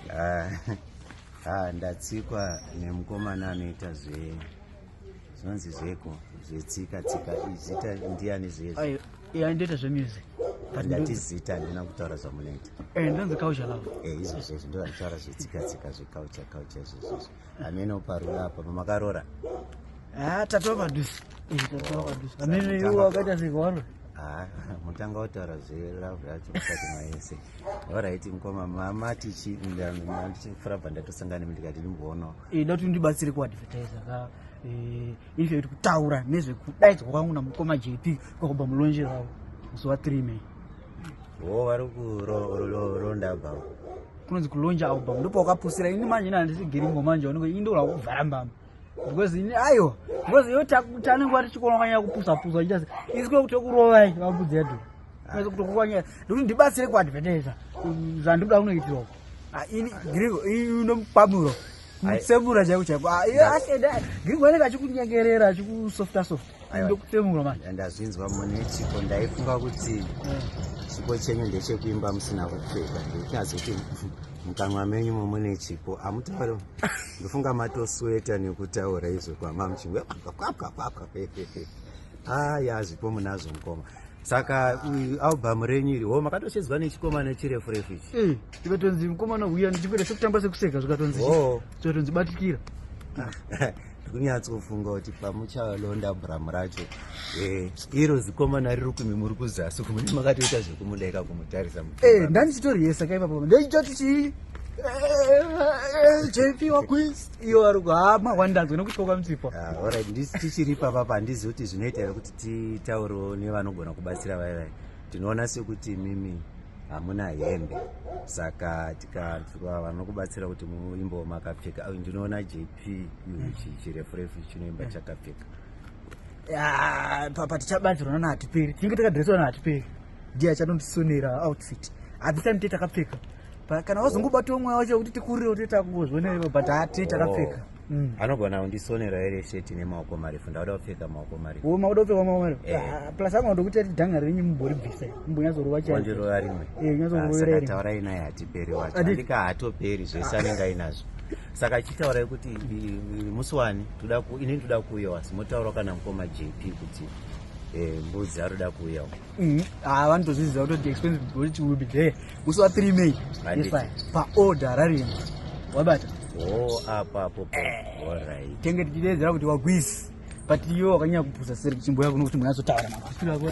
Ah, ah, ndatsikwa nemukomana anoita zve zvinonzi zveko zvetsika tsika izita ndiani zvezvo ndoita zvemusic ndati zita ndina kutaura zvamunoita eh, ndonzi culture love eh, izvo zvezvo ndovanitaura zvetsika tsika zvecouture culture zvezvizvo amene uparuda apa pamakarora ah, tatova padusi amene iwo akaita zvikwaro ah, mutanga wataura zvelove yacho kusati maese orit mkoma mama tichi ndichifurabva ndatosangana mi ndikati ndimboonawo ida kuti ndibatsire kuadvertisa ka eh, ife kuti kutaura nezvekudaidzwa kwangu namukoma jp kwakubva mulonje ravo musi wa 3 may wo vari kuronda bva kunonzi kulonja album ndopawakapusira ini manje nandisi giringo manje unenge ini ndola kuvhara mbama because ini ayo because yo tanenge wati chikonokanyaya kupusa pusa wachita isiko kutokurovai vambudzi yedu kutokukwanyaya ndokuti ndibatsire kuadvertisa zvandikuda kunoitirwa ah, ini giringo unomupamuro mutsemura chaiko chaiko ah, giringo anenge achikunyengerera achikusofta softa ndazvinzwa mune chipo ndaifunga kuti chipo chenyu ndechekuimba musina kupfeka ndikuti azoti mukanwa menyu momune chipo amutauro ndofunga matosweta nekutaura izvo kwama muchinge kwapwakwapwa aya zvipo munazvo mukoma saka albhamu renyu iri ho makatochedzwa nechikomana chirefu refu ichi eh, tikatonzi mukomana uya ndichikuita sekutamba sekuseka zvikatonzi zvikatonzi batikira ndikunyatsofunga kuti pamuchalonda bram racho eh, iro zikomana riri kumi muri kuzasi kumune makatoita zvekumudeka kumutarisa eh, ndanichitoriyesa kaipapo ndechitoti chii jp wakwis iyo wari kuhama wandanzwa nekuti kwakwamutsipo ah, orit ndisi tichiri papa pandizivi kuti zvinoita here kuti titauriwo nevanogona kubatsira vai vai tinoona sekuti mimi hamuna hembe saka tikavanokubatsira kuti muimbo makapfeka ndinoona jp chirefurefu chinoimba eh. chakapfeka papa tichabanzirwa nana hatiperi tinenge takadreswa nana hatiperi ndiye achanondisonera outfit at the time te takapfeka kana wazongobatiwo mweya wacho kuti tikurire kuti takungozvonero but hati takapfeka oh. mm. anogona kundisonera here sheti nemaoko marefu ndakuda kupfeka maoko marefu oh, makuda kupfeka maoko marefu eh. ah, plus anoda kuti ati dhanga renyu mumboribvisa mumbonyazorova chaondirova rimwe eh, nyazorova rimwe saka taurai naye hatiperi wacho andika hatoperi zvese anenge ainazvo saka chitaurai kuti musi wani inini toda kuuya wasi motaura kana mukoma jp kuti eh, mbudzi aroda kuuyawo mm-hmm. ah, vanotozviziva kutoti expense boti will be there musi wa 3 may paorder rarima wabata oh, apo apo eh, tenge tichideedzera kuti wagwizi but iwe wakanyanya kupusa seri chimbo yako nokuti munhu azotaura mafasiro ako